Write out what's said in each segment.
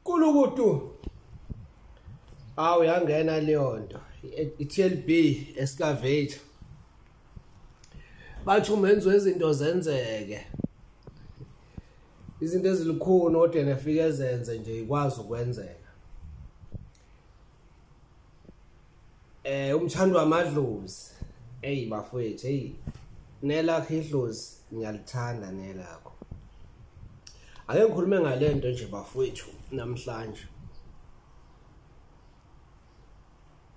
kulukutu awu yangena leyo nto i-tlb excavate bathi umenziwa izinto zenzeke izinto ezilukhuni kodwa nefike ezenze nje ikwazi ukwenzeka eh umthando wamadlozi hey bafowethu hey nelakho idlozi ngiyalithanda nelakho ake ngikhulume ngalento nje bafowethu namhlanje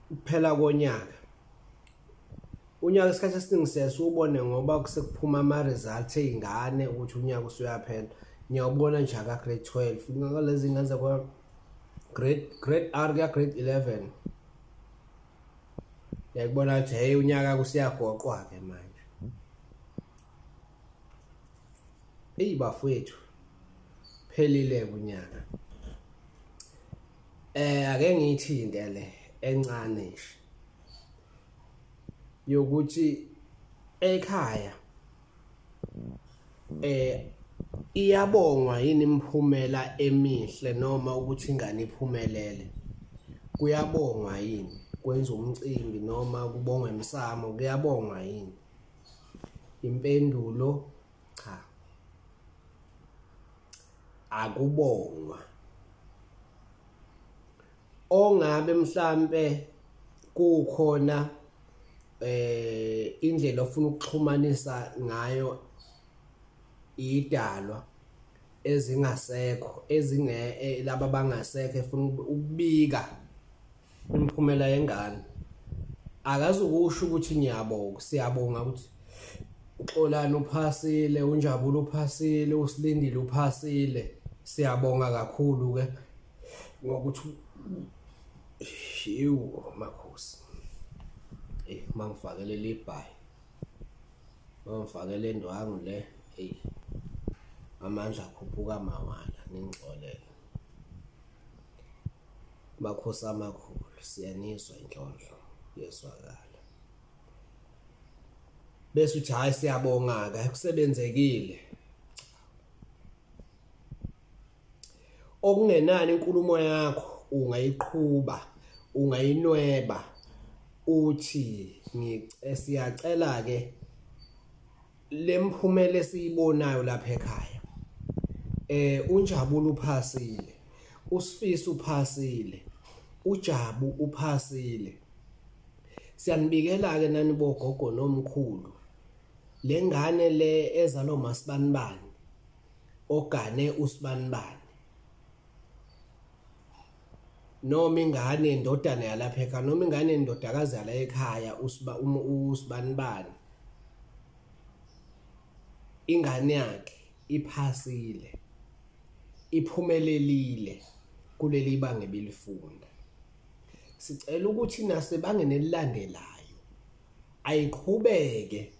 kuphela konyaka unyaka isikhathi esiningi siyasubone ngoba kusekuphuma ama results ezingane ukuthi unyaka usuyaphela ngiyawubona nje aka grade 12 ngaka lezi ngane zakwa grade grade R kuya grade 11 yakubona ukuthi hey unyaka kusiyagoqwa ke manje eyi bafowethu phelile kunyaka eh ake ngiyithinte le encane nje yokuthi ekhaya eh iyabongwa yini imphumela emihle noma ukuthi ingane iphumelele kuyabongwa yini kwenza umcimbi noma kubongwa emsamo kuyabongwa yini impendulo cha akubongwa ongabe mhlambe kukhona eh indlela ofuna ukuxhumanisa ngayo idalwa ezingasekho ezinge eh, laba bangasekho efuna ukubika imphumela yengane akazukusho ukuthi ngiyabonga siyabonga ukuthi uxolani uphasile unjabulo uphasile usilindile uphasile siyabonga kakhulu ke ngokuthi yiwo makhosi eh mangifakele libhayi mangifakele indwangu le hey amandla akhuphuka mawala ningixolele makhosi amakhulu siyaniswa inhlonhlo yeswakala bese uthi hayi siyabonga-ke kusebenzekile okungenani inkulumo yakho ungayiqhuba ungayinweba uthi ngicela ke lemphumela esiyibonayo lapha ekhaya eh unjabulo uphasile usifiso uphasile ujabu uphasile siyanibikela ke nani bogogo nomkhulu lengane le ezalo masibanibani ogane usibanibani noma ingane indodana yalapha ekhaya noma ingane indodakazi yala ekhaya usiba uma usibanibani ingane yakhe iphasile iphumelelile kuleli banga ebilifunda sicela ukuthi nasebangene lilandelayo ayiqhubeke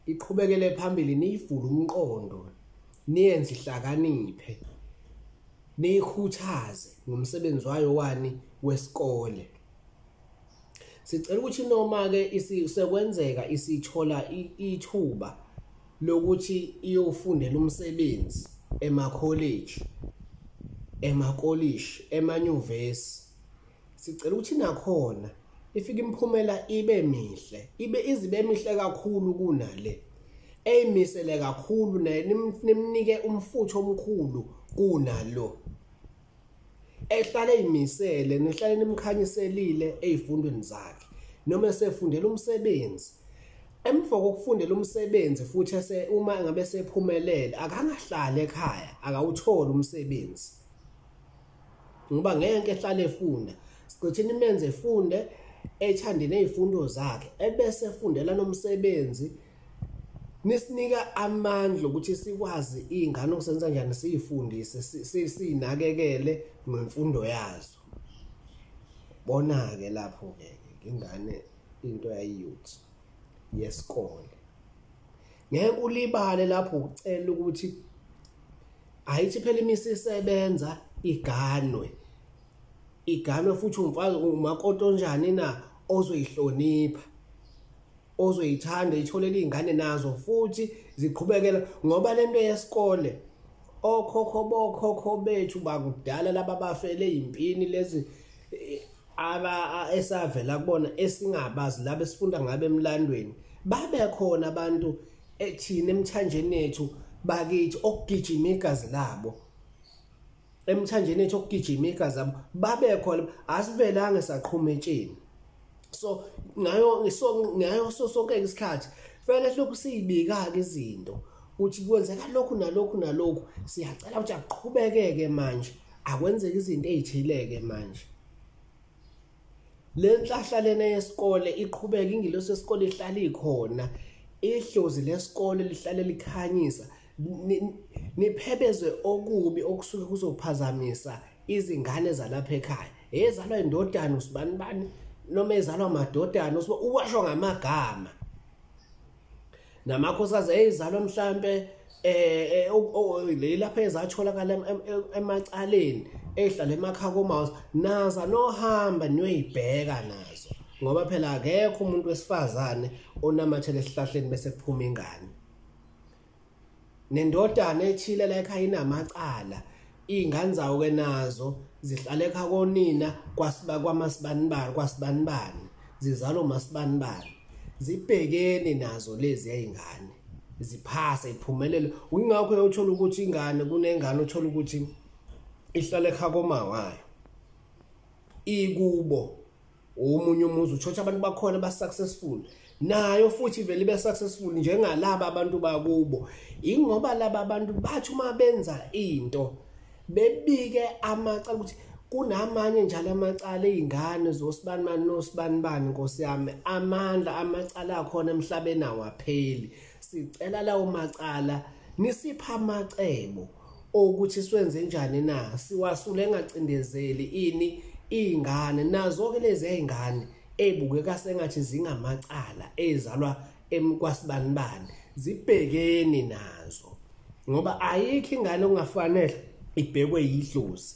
iqhubekele phambili niyivule umqondo niyenze ihlakaniphe niyikhuthaze ngomsebenzi wayo wani wesikole sicela ukuthi noma ke sekwenzeka isithola ithuba lokuthi iyofundela umsebenzi ema college ema college emanyuvesi sicela ukuthi nakhona ifike imphumela ibe mihle ibe izibe mihle kakhulu kunale eyimisele kakhulu naye nimnike umfutho omkhulu kunalo ehlale eyimisele nihlale nimkhanyiselile ezifundweni zakhe noma esefundela umsebenzi emva kokufundela umsebenzi futhi ese uma ngabe sephumelele akangahlali ekhaya akawutholi umsebenzi ngoba ngeke ehlale efunda siqithini menze efunde ethande nezifundo zakhe ebese efundela nomsebenzi nisinika amandla ukuthi sikwazi izingane okusenza njani siyifundise sinakekele ngemfundo yazo bona ke lapho ke ingane into yayiyuthi yesikole ngeke ulibale lapho ucela ukuthi ayithi phela imisi isebenza iganwe iganwe futhi umfazi umakoti onjani na ozoyihlonipha ozoyithanda itholele izingane nazo futhi ziqhubekela ngoba lento yesikole okhokho bokhokho bethu bakudala laba bafele impini lezi aba esavela kubona esingabazi laba esifunda ngabe emlandweni babe khona abantu ethina emthanjeni yethu bakithi okugijima igazi labo emthanjeni yethu okugijima igazi labo babe khona asivelanga saqhuma etsheni so ngayo so ngayo so sonke isikhathi fanele lokhu siyibika ke izinto ukuthi kwenzeka lokhu nalokhu nalokhu siyacela ukuthi aqhubekeke manje akwenzeka izinto ezithileke manje le nhlahla lena yesikole iqhubeka ingilosi yesikole ihlala ikhona ihlozi lesikole lihlale likhanyisa niphebezwe okubi okusuke kuzophazamisa izingane zalapha ekhaya ezalwa indodana usibani bani noma ezalwa amadodana uwasho ngamagama namakhosikazi eyizalwa mhlampe eh, eh leli lapha ezatholakala emacaleni ehlala emakhaya komouse naza nohamba niyoyibheka nazo ngoba phela akekho umuntu wesifazane onamathele esihlahleni bese kuphuma ingane nendodana ethile la ekhaya inamacala iy'ngane zawo-ke nazo zihlale ekha konina kwamasibanibani kwasibanibani zizalo masibanibani zibhekeni nazo lezi yay'ngane ziphase iphumelele wingakho yothola ukuthi ingane kunengane othola ukuthi ihlale ekha komawayo ikubo omunye umuzi utshotsha abantu bakhona ba-successful nayo futhi vele ibe successful njengalaba abantu bakubo ingoba laba abantu bathi uma benza into bebike amacala ukuthi kunamanye njalo amacala ezingane zosibanibani nosibanibani Nkosi yami amandla amacala akhona emhlabeni awapheli sicela lawo macala nisipha amacebo ukuthi swenze njani na siwasule engacindezeli ini ingane nazo ke lezi ezingane ebukeka sengathi zingamacala ezalwa emkwasibani bani zibhekeni nazo ngoba ayikho ingane ongafanele ibhekwe yidlozi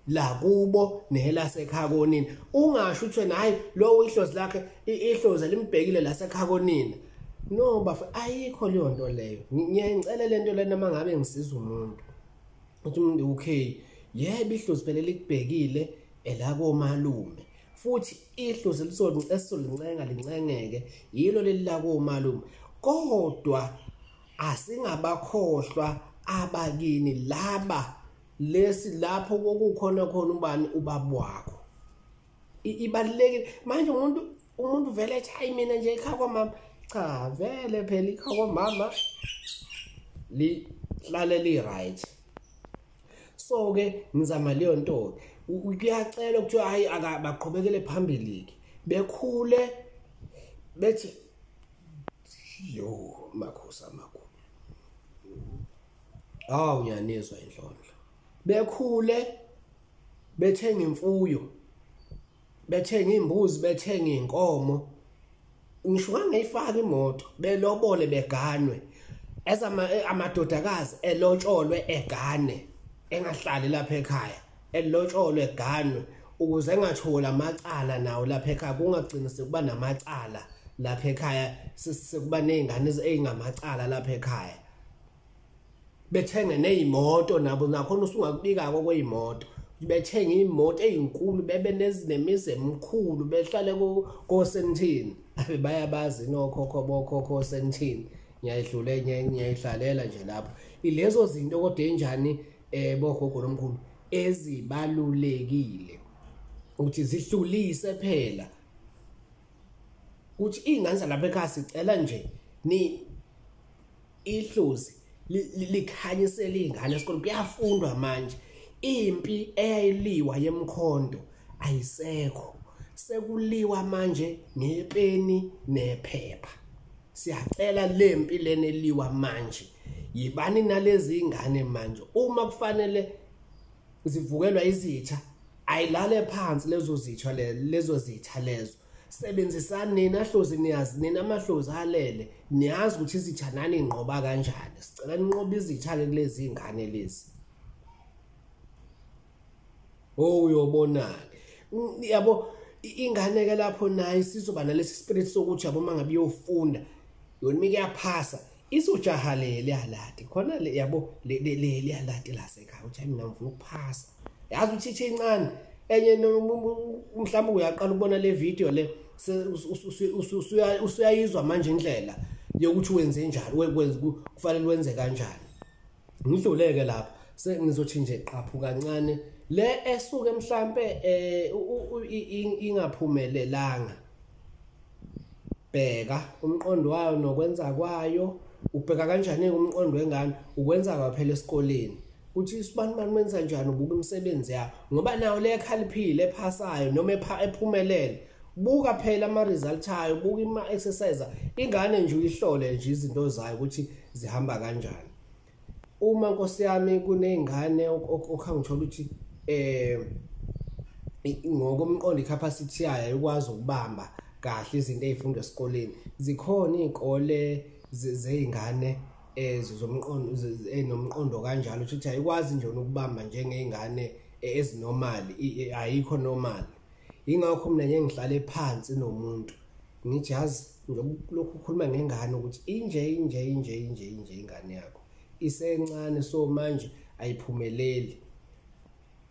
la kubo nelasekhaya konini ungasho ukuthi wena hayi lo ihlozi lakhe ihlozi limbhekile lasekhaya konini no bafa ayikho leyo nto leyo ngiyayicela lento lena mangabe ngisiza umuntu uthi umuntu okay yebo ihlozi phela likubhekile elakomalume futhi ihlozi elisolincenga lincengeke yilo leli lakomalume kodwa asingabakhohlwa abakini laba lesi lapho kokukhona khona ubani ubaba wakho ibalekile manje umuntu umuntu vele ethi hayi mina nje ikha kwamama cha vele phela ikha kwamama li hlale li right so ke ngizama leyo nto kuyacela ukuthi hayi akabaqhubekele phambili ke bekhule bethi yo makhosi amakhulu Hawu ngiyanizwa inhlonhlo. Bekhule bethenga imfuyo. Bethenga imbuzi, bethenga inkomo. Ngisho ngangeyifaka imoto, belobole beganwe. As ama eh, amadodakazi elotsholwe egane engahlali lapha ekhaya. Elotsholwe eganwe ukuze engatholi amacala nawo lapha ekhaya kungagcini sekuba namacala lapha ekhaya sekuba nezingane ezingamacala lapha ekhaya bethenge nezimoto nabo nakhona usungakubika ko kwezimoto bethenga imoto ezinkulu bebe nezinemizi emkhulu behlale ko ko sentini abe bayabazi nokhokho bokhokho sentini ngiyayidlula ngiyayihlalela nje lapho ilezo zinto kodwa enjani eh bogogo lomkhulu ezibalulekile ukuthi zihlulise phela ukuthi ingane zalapha ekhaya sicela nje ni ihlozi likhanyisela izingane esikoleni kuyafundwa manje impi eyayiliwa yemkhonto ayisekho sekuliwa manje ngepeni nephepha siyacela lempi lena eliwa manje yibani nalezi ingane manje uma kufanele zivukelwa izitha ayilale phansi lezo zitha lezo zitha lezo sebenzisani nina hlozi niyazi nina amahlozi alele niyazi ukuthi izitha nani inqoba kanjani sicela ninqoba izitha-ke kulezi ingane lezi o oh, uyobona-ke yabo ingane-ke lapho naye sizoba nalesi spirit sokuthi yabo uma ngabe iyofunda yona uma ikeyaphasa isujaha le liyalati khona le yabo le liyalati lasekhaya uthi mina ngifuna ukuphasa yazi uthi ithi incane enye mhlawumbe uyaqala ukubona le video le usuyayizwa manje indlela yokuthi wenze njani kufanele wenze kanjani ngidluleke lapha sengizothi nje qaphu kancane le esuke mhlambe eh ingaphumelelanga bheka umqondo wayo nokwenza kwayo ubheka kanjani umqondo wengane ukwenza kwaphela esikoleni uthi isibani bani wenza njani ubuka imisebenzi yakho ngoba nayo le khaliphile ephasayo noma ephumelele buka phela ama result ayo buka ima exercise ingane nje uyihlole nje izinto zayo ukuthi zihamba kanjani uma nkosi yami kunezingane okhangithola ukuthi eh ngokomqondo icapacity yayo ikwazi ukubamba kahle izinto ezifundwa esikoleni zikhona izikole zeingane ezizomqondo eh, enomqondo eh, kanjalo ukuthi ayikwazi nje ukubamba njengeingane eh, ezinormal ayikho normal Ingakho mina ngeke ngihlale phansi nomuntu. Ngithi yazi ngizokulokhu ukhuluma ngengane ukuthi inje inje inje inje inje ingane yakho. Isencane so manje ayiphumeleli.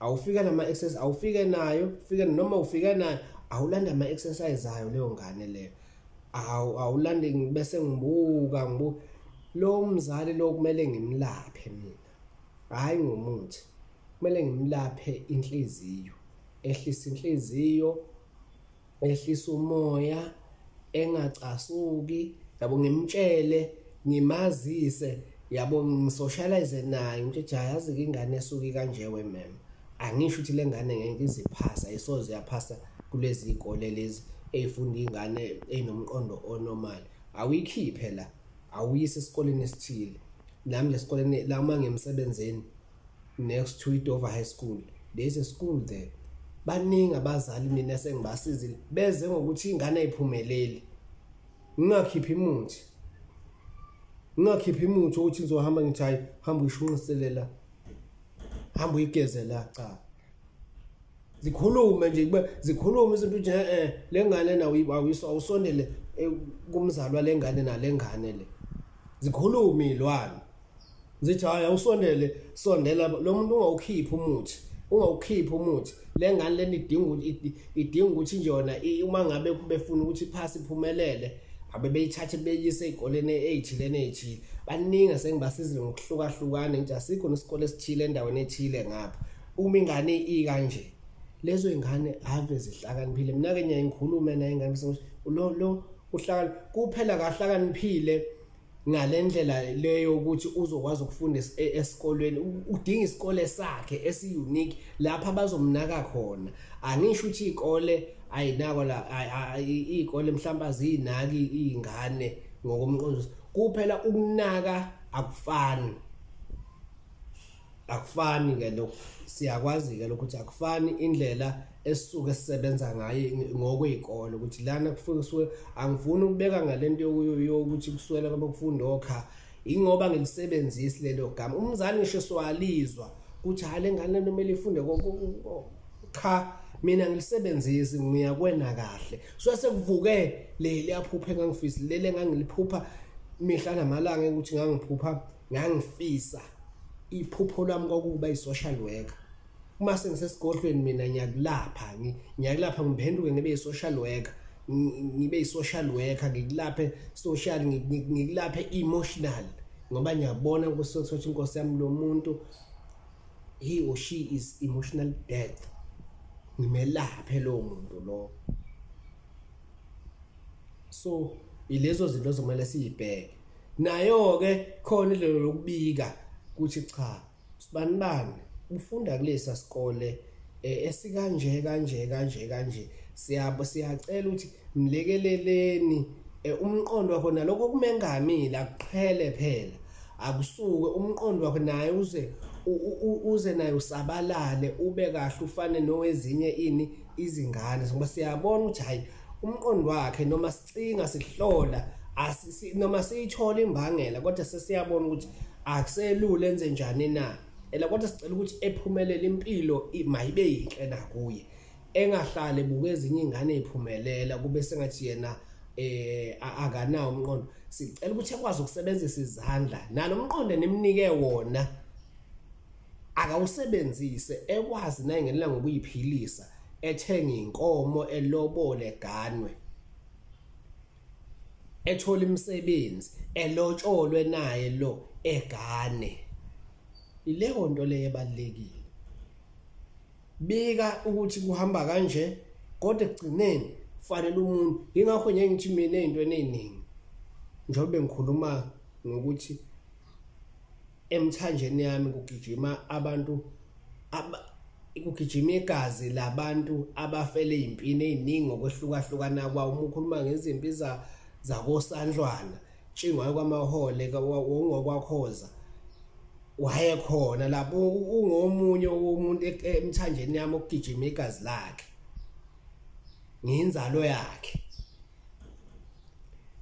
Awufika nama exercise awufike nayo, ufike noma ufika nayo awulanda ama exercise ayo leyo ngane leyo. Awu awulande bese ngibuka ngibuka lo mzali lo kumele ngimlaphe mina. hhayi ngomuthi kumele ngimlaphe inhliziyo ehlisa inhliziyo ehlisa umoya engacasuki yabo ngimtshele ngimazise yabo ngisocialize naye ngithi cha yazi ke ingane esuki kanje we mem angisho ukuthi lengane ngeke iziphasa isoze yaphasa kulezi ikole lezi eyifunda ingane enomqondo onormal awikhiphe la awuyise esikoleni esithile nami nje esikoleni la uma ngemsebenzini next to idover high school there is a school there baningi abazali mina sengibasizile beze ngokuthi ingane ayiphumeleli ngingakhiphi imuthi ngingakhiphi imuthi ukuthi ngizohamba ngithi hayi hamba uyishunqiselela hamba uyigezela cha zikhulume nje kube zikhulume isintu nje eh lengane na uyibawiso awusondele eh, kumzalwa lengane nalengane le zikhulume ilwane zithi hayi awusondele sondela lo muntu ungawukhiphi umuthi ungawukhiphi umuthi lengane leni idinga idinga ukuthi njona uma ngabe befuna ukuthi iphasi iphumelele abebeyithathe beyise ezikoleni ezithile nezithile baningi esengibasizile ngokuhlukahlukana nje asikho nesikole esithile endaweni ethile ngapha uma ingane i kanje lezo ingane ave zihlakaniphile mina ke ngiyayikhuluma naye ingane bese lo lo uhlakani kuphela kahlakaniphile ngalendlela leyo ukuthi uzokwazi ukufunda e-, esikolweni udinga isikole sakhe esi unique lapha bazomnaka khona angisho ukuthi ikole ayinako la ikole mhlawumbe azinaki izingane ngokomqondiso kuphela ukunaka akufani akufani ke lokho siyakwazi ke lokho ukuthi akufani indlela esuke sisebenza ngayo ngokwezikole ukuthi lana kufuke angifuni ukubeka ngalento yokuyo ukuthi kuswela kwabakufundi okha ingoba ngilisebenzisi lelo gama umzali ngisho swalizwa ukuthi hale ngane nomele ifunde cha mina ngilisebenzisi ngiyakwena kahle so sekuvuke leli aphuphe ngangifisi lele ngangiliphupha mihla namalanga ukuthi ngangiphupha ngangifisa iphupho lwami kwakuba i-social worker uma sengisesigodlweni mina ngiyakulapha ngiyakulapha ngiphenduke ngibe i-social worker ngibe i-social worker ngikulaphe social ngikulaphe emotional ngoba ngiyabona kusothi inkosi yami lo muntu he or she is emotional death ngimelaphe lowo muntu lowo so ilezo zinto zomele siyibheke nayo ke khona indlela lokubika ukuthi cha sibani bani ufunda kulesa sikole eh, esikanje kanje kanje kanje siyabo siyacela ukuthi mlekeleleni eh, umqondo wakho naloko kumengamile akuqhele phela akusuke umqondo wakho naye uze uze naye usabalale ube kahle ufane nowezinye ini izingane ngoba siyabona ukuthi hayi umqondo wakhe noma sicinga sihlola noma siyithola imbangela kodwa sesiyabona ukuthi akuselula enze njani na ela kodwa sicela ukuthi ephumelele impilo mayibe yinhle nakuye engahlale buke ezinye ingane iphumelela kube sengathi yena eh akanawo umqondo sicela ukuthi ekwazi ukusebenzisa izandla nalo mqondo nemnike wona akawusebenzise ekwazi naye ngelela ngokuyiphilisa ethenge inkomo elobole ganwe ethola imisebenzi elotsholwe naye lo egane ileyo nto leyo ebalekile bika ukuthi kuhamba kanje kodwa ekugcineni fanele umuntu ingakho nje ngithi mina into eningi njengoba ngikhuluma ngokuthi emthanjeni yami kugijima abantu aba kugijima igazi labantu abafele impini eziningi ngokwehlukahlukana kwawo uma ukhuluma ngezimpi za zakosandlwana tshingwayo kwamahole ngokwakhoza wayekhona lapho ungomunye womuntu e-, emthanjeni yami okugijima igazi lakhe ngiyinzalo yakhe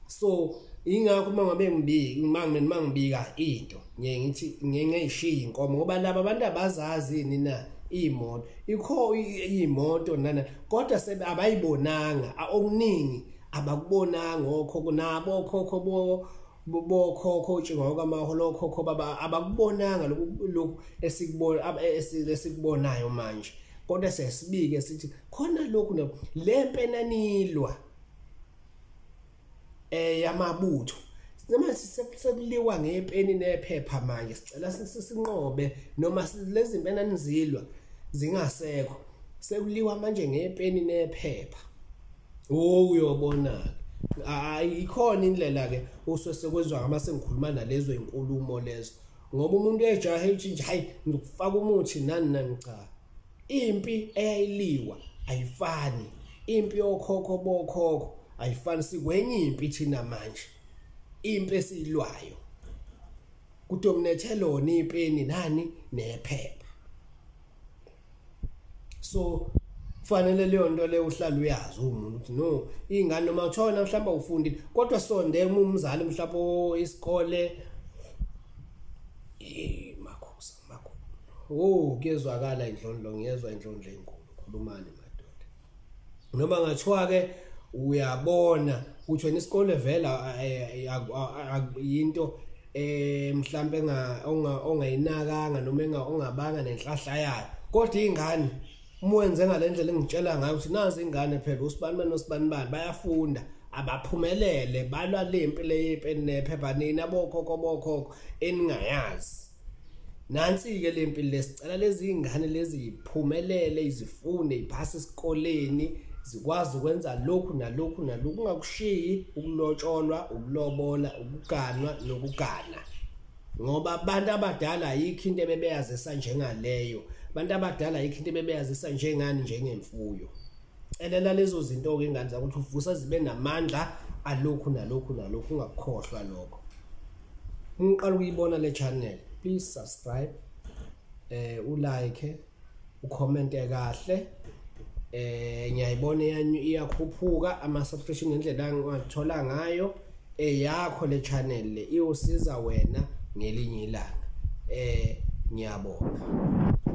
so ingakho uma ngabe ngibiki uma mina ngibika into ngiye ngithi ngiye ngiyishiya inkomo ngoba laba abantu abazazi yini na imoto ikho imoto nana kodwa sebe abayibonanga okuningi abakubonanga okho kunabo okhokho bo bokhokho utshingwa kwamaholo okhokho baba abakubonanga lokhu esikubona esikubonayo manje kodwa sesibike sithi khona lokhu le mpenanilwa eh yamabutho noma sisekuliwa ngepeni nephepha manje sicela sinqobe noma lezi mpenanizilwa zingasekho sekuliwa manje ngepeni nephepha Oh uyobona ke. Hayi ikhona indlela ke usese kwezwa ngama sengikhuluma nalezo inkulumo lezo. Ngoba umuntu ejahe uthi nje hayi ngikufaka umuthi nani nani cha. Impi eyayiliwa ayifani. Impi yokhokho bokhokho ayifani sikwenye impi thina manje. Impi esilwayo. Kudominethe lona ipeni nani nephepha. so kufanele leyo nto leyo uhlala uyazi umuntu ukuthi no iy'ngane noma kuthiwona mhlawumbe awufundile kodwa sonde uma umzali mhlawumbe oh, isikole makhosa makho o oh, kuyezwakala indlondlo ngiyezwa indlondlo enkulu khulumane noma ngathiwa ke uyabona ukuthi wena isikole vela yinto eh mhlambe nga ongayinakanga noma enga ongabanga nenhlahla yayo kodwa ingane mwenze ngalendlela engitshela ngayo ukuthi nazi ingane phela usibani bani usibani bani bayafunda abaphumelele balwa lempi leyipe nephephanini abokhokho bokhokho eningayazi nansi-ke le mpilo lesicela lezi ngane lezi yiphumelele izifunde yiphase esikoleni zikwazi ukwenza lokhu nalokhu nalokhu ungakushiyi ukulotsholwa ukulobola ukuganwa nokugana ngoba abantu abadala ayikho into ebebeyazisa njengaleyo abantu abadala ayikho into ebebeyazisa njengani njengemfuyo celela lezo zinto-ke ingane zakho ukuthi uvusa zibe namandla alokhu nalokhu nalokhu ungakukhohlwa lokho uma uqala ukuyibona le channel please subscribe eh ulike ucommente kahle eh ngiyayibona yanyu iyakhuphuka ama subscription ngendlela engathola ngayo eyakho le channel le iwusiza wena ngelinye ilanga eh ngiyabonga